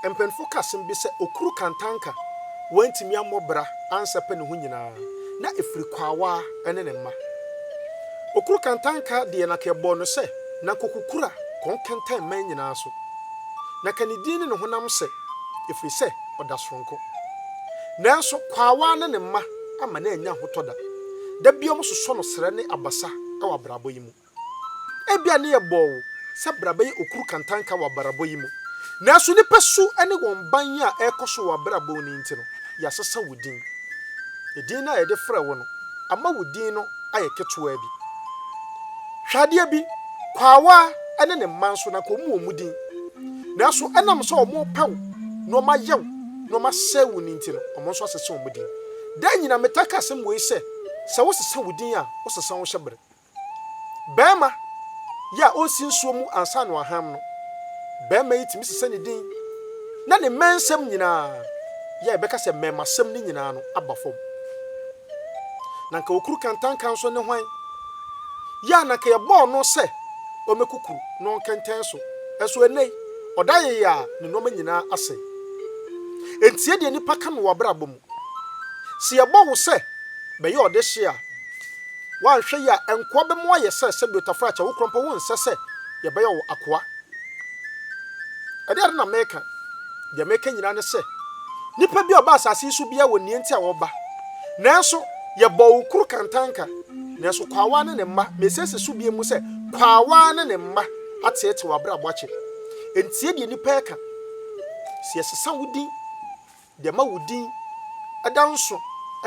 Mpanyimfo ka asɛm bi sɛ okuru kantanka wantumi ammɔ bra ansɛpɛ ne ho nyinaa na ɛfiri kwaawaa ne ne mma. Okuru kantanka deɛ na ka ɛbɔɔ no sɛ na nkokukura kɔn kɛntɛn mman nyinaa so. Na ka ne din ne ne honam sɛ ɛfiri sɛ ɔda soronko. Nanso kwaawaa ne ne mma amma no annya ahotɔ da. Da biara wɔsosɔ no serɛ ne abasa wɔ abrabɔ yi mu. Ebia na yɛbɔɔ wo sɛ bra bɛyɛ okuru kantanka wɔ abrabɔ yi mu, nanso nnipa su ne wɔn ban yi a ɛrekɔ so wɔ w'abrabɔ mu no nti no, yɛasesa wo din. Edin no a yɛde frɛ wo no ama wo din no ayɛ ketewaa bi. Hwɛ adeɛ bi, Kwaawa ne ne mma nso, na anka wɔwɔ wɔn din, nanso ɛnam sɛ wɔrepɛ wo na wɔayɛ wo na wɔasɛe wo no nti no, wɔn nso asesa wɔn din. Daa nyinaa metaa ka asɛm wei sɛ, sɛ wosesa wo din a, wosesa wo hyɛbere. Barima yi a ɔnsi nsuo mu ansa na waham no, barima yi tumi sesa ne din na ne mmɛnsɛm nyinaa yɛ a yɛbɛka sɛ mmɛmasɛm no nyinaa no aba fam. Na nka okuru kantanka nso ne hwan? Yɛ a na nka yɛbɔɔ no sɛ ɔmmɛku kuru na ɔnkɛntɛn so, nso ɛnnɛ yi ɔda yɛyɛ a ne nnoɔma nyinaa asɛe. Ɛntie deɛ nnipa ka no wɔ abrabɔ mu. Sɛ yɛbɔ wo sɛ bɛyɛ ɔdehye a, woanhwɛ yie a, nkoa bɛmo ayɛ sɛ sɛdeɛ otafra akyɛ wo korɔmpɔ. Wonsɛ sɛ yɛbɛyɛ wo akoa. Ɛdeɛn ade na meka? Deɛ meka nyinaa ne sɛ, nipa biara a ɔba asase yi so biara wɔ nea nti a ɔba. Nanso yɛbɔɔ wo kuru kantanka, nanso kwaawaa ne ne mma, mesiesie so bio mu sɛ, kwaawaa ne ne mma ateetee w'abrabɔ akyɛ. Ntie deɛ nnipa reka, sɛ yɛsesa wo din. Deɛ ɛma wo din da nso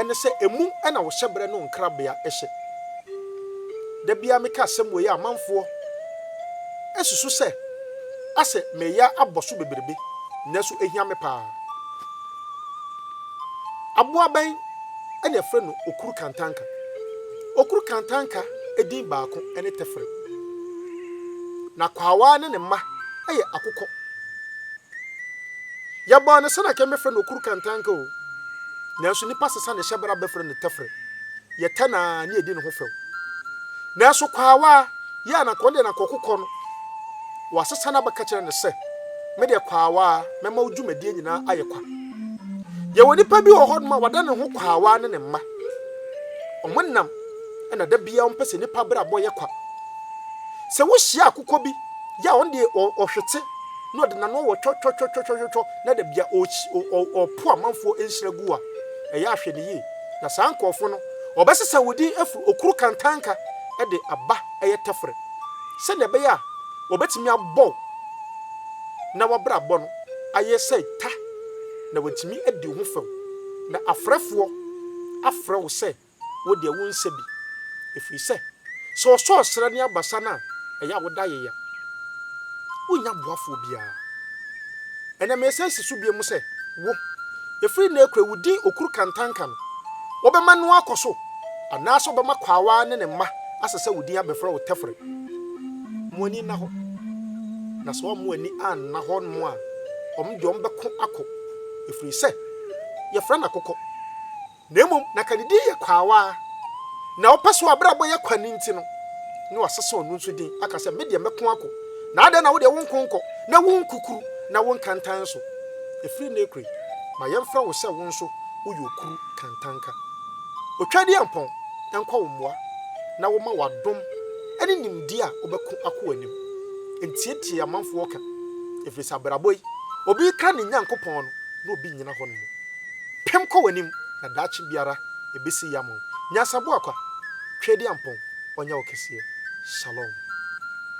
ne sɛ ɛmu na wo hyɛberɛ ne wo nkrabea hyɛ. Da biara meka asɛm wei a amanfoɔ susu sɛ asɛ meyɛ abɔ so bebrebe nanso ɛhia me paa. Aboa bɛn na yɛfrɛ no Okuru Kantanka? Okuru Kantanka din baako ne Tɛfrɛ. Na Kwaawa ne ne mma yɛ Akokɔ. Yɛbɔɔ no sɛnea anka yɛbɛfrɛ no Okuru Kantanka o, nanso nnipa sesa ne hyɛbra bɛfrɛ no Tɛfrɛ. Yɛtɛ no ara na yɛdi ne ho fɛw. Nanso Kwaawa yi a na anka ɔno deɛ na anka ɔkokɔ no, wɔasesa no abɛka kyerɛ no sɛ, Me deɛ Kwaawa, mɛma wo dwumadie nyinaa ayɛ kwa. Yɛwɔ nipa bi wɔ hɔnom a wada ne ho Kwaawa ne ne mma. Wɔnam na da biara wɔmpɛ sɛ nnipa abrabɔ yɛ kwa. Sɛ wohyia akokɔ bi yɛ a ɔno deɛ ɔhwete. na ɔde n'ano wɔ twɔtwɔtwɔtwɔtwɔtwɔ na da bia ɔɔkyi o ɔ ɔɔpo amanfoɔ nhyira gu a ɛyɛ ahwɛneyie na saa nkorɔfoɔ no ɔbɛsesa wo din afiri okuru kantanka de aba ɛyɛ tɛfrɛ sɛdeɛ ɛbɛyɛ a ɔbɛtumi abɔ wo na wabrabɔ no ayɛ sɛ ta na wantumi adi wo ho fɛw na afrɛfoɔ afrɛ wo sɛ Wo deɛ wonsɛ bi, ɛfiri sɛ sɛ ɔsɔ ɔsrɛ ne abasa no a, ɛyɛ a woda ayeyɛ. Wonnya boafoɔ biara. Ɛnnɛ meresan asi so bio sɛ, wo, ɛfiri nnɛ rekɔ yi, wo din Okuru Kantanka no, wobɛma no akɔ so anaasɛ wobɛma Kwaawa ne ne mma asɛ sɛ wo din abɛfrɛ wo Tɛfrɛ. Mo ani nna hɔ, na sɛ wɔn ani anna hɔ mmo a, wɔn deɛ wɔbɛko akɔ, ɛfiri sɛ yɛfrɛ no akokɔ, Na mmom na Kadidi yɛ kwaawa ara, na ɔpɛ sɛ w'abrabɔ yɛ kwa no nti no, na wasesa ɔno nso din, aka sɛ, Me deɛ mɛko akɔ, na adɛn na wo deɛ wonko nkɔ, na wonkukuru, na wonka ntan nso? Ɛfiri nnɛ rekɔ yi, ma yɛmfrɛ wo sɛ wo nso woyɛ okuru kantanka. Otwadiampɔn, ɛnkɔ wo mmoa, na woma wo adom ne nimdeɛ a wobɛko akɔ w'anim. Ntiatia amanfoɔ ka, ɛfiri sɛ abrabɔ yi, obi rekra ne Nyankopɔn no, na obi nnyina hɔ no mu. Pem kɔ w'anim na daakye biara ɛbɛsi yam o Nyansabua kwa, Tweediampɔn ɔnyɛ wo kɛseɛ Shalom.